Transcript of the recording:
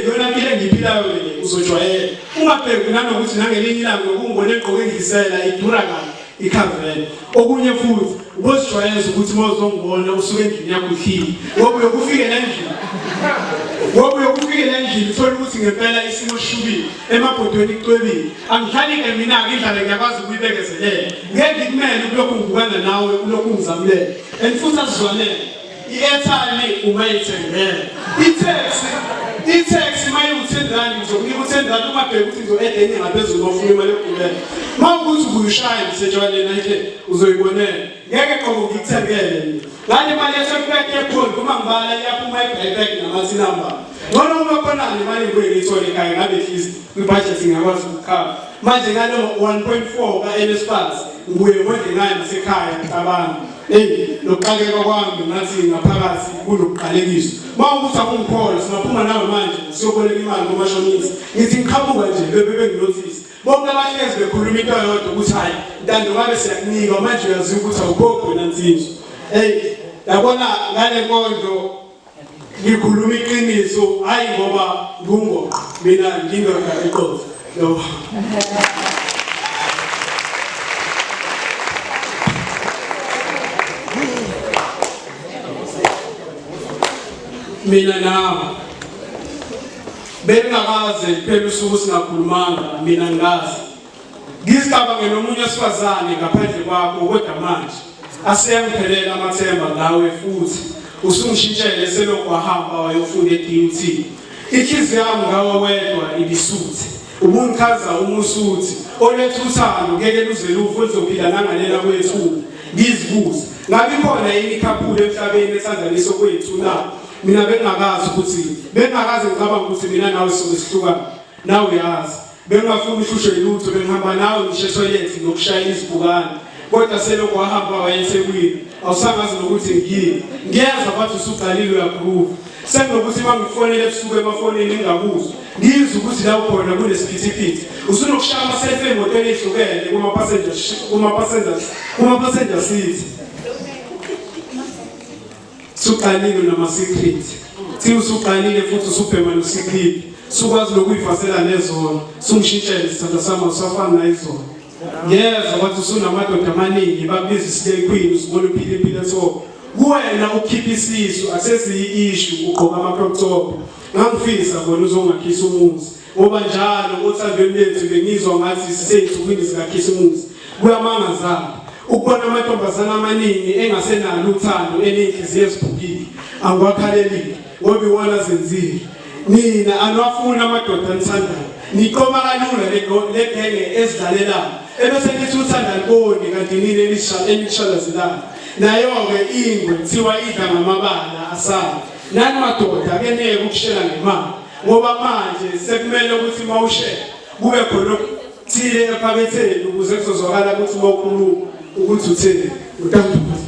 yona mpilo engiyiphilayo mina uzojwayela ungabheki nanokuthi nangelinye ilanga ngokungibona egqoke ngisela idura kabi ikhavele okunye futhi ubozijwayeza ukuthi uma uzongibona usuke endlini yakho uhlile ngoba uyokufikela endlini ngoba uyokufikela endlini uthole ukuthi ngempela isimo sishubile emabhodweni kucwebile angihlali ke mina-ke indlala ngiyakwazi ukuyibekezelela ngeke ngikumele ukulokhu ngibukana nawe ulokhu ngizamulele and futhi asizwanele I-airtime ungayithengela itaxi itaxi uma iwu-ten rand ngizokunika u-ten rand uma bheka ukuthi ngizo-eda enye ngaphezulu ofuna imali yokugulela uma ukuthi ubuyishaya ngisetshwaleni ayike uzoyibonela ngeke qobo ngikuthengele mina ngale mali yasebek yepholi uma ngibala iyaphuma ebhekbek namasinamba ngcono uma khonani imali ngibuye ngiyithole ekhaya ngabe at least kwibhajethi ngingakwazi ukukhava manje ngalo 1.4 ka-nsfas ngibuye ngondle ngayo nasekhaya ngicabanga Eyi lokuqaleka kwami ngathi ngaphakathi kunokuqalekiswa. Mawukuthi akungikholwa singaphuma nawe manje siyoboleka imali komashonisa. Ngithi ngiqhamuka nje bebe benginothisi. Bonke abahlezi bekhuluma into yodwa ukuthi hayi ntando ngabe siyakunika manje uyaziwa ukuthi awukhokhi wena nsizwa. Eyi yabona ngale nkondlo Ngikhuluma iqiniso hayi ngoba ngungoqo mina ngindoda eqotho no mina nawe bengakaze phela usuku singakhulumanga mina ngazi Ngizicabangela omunye wesifazane ngaphandle kwakho kodwa manje aseyangiphelela amathemba ngawe futhi usungishintshele selokhu wahamba wayofunda e-DUT. Inhliziyo yami ngawe wedwa ibisuthi ubungichaza uma usuthi oletha uthando ngeke luze lufu lizophila nangalela kwethuba ngizibuze ngabe ikhona yini ikhaphulu emhlabeni ethandanisa kwethu na mina bengakazi ukuthi bengakaze ngicabanga ukuthi mina nawe sobe sihlukana nawe yazi Bengingafuni uhlushwe lutho bengihamba nawe ngisho ethoyilethi nokushaya izibukane kodwa selokhu wahamba wayesekwini awusangazi nokuthi ngiyini ngiyeza bathi usuqalile uyakhruva sekunokuthi uma ngifonele ebusuku emafonini ngingakuzwa ngizwe ukuthi la ukhona kunesiphithiphithi usunokushaya amaselfi emotweni ehlukene kuma-passenger seat Suqalile nama secret. Thi usuqalile futhi usubhema no secret. Sukwazi lokuyifasela nezona. Sungishintshele sithanda sami usafana nayizona. Ngiyeza wathi usunamadoda amaningi babiza isile queen usibona uphile impilo so. Kuwena ukhipha isisu aseziyi issue ugqoka amaprocop. Ngangifisa bona uzongakhisa umuzi. Ngoba njalo othandweni lethu bengizwa ngathi siseyinsukwini zikaKhisimusi. Kuyamangaza-ke ukubona amantombazane amaningi engasenalo uthando eney'nhliziyo eziphukile. Angiwakhalelile ngoba iwona azenzile. Nina aniwafuni amadoda anithandayo. Niqoma kalula legenge ezidlalelayo ebese nithi uthandani koni kanti nini enishalazelayo. Nayo-ke ingwe kuthiwa idla ngamabala asale. Nani madoda ake niyeke ukushela ngemali. ngoba manje sekumele ukuthi uma ushela kube khona okuthile ephaketheni ukuze kuzozwakala ukuthi uma ukhuluma ukuthi utheni utandukuthi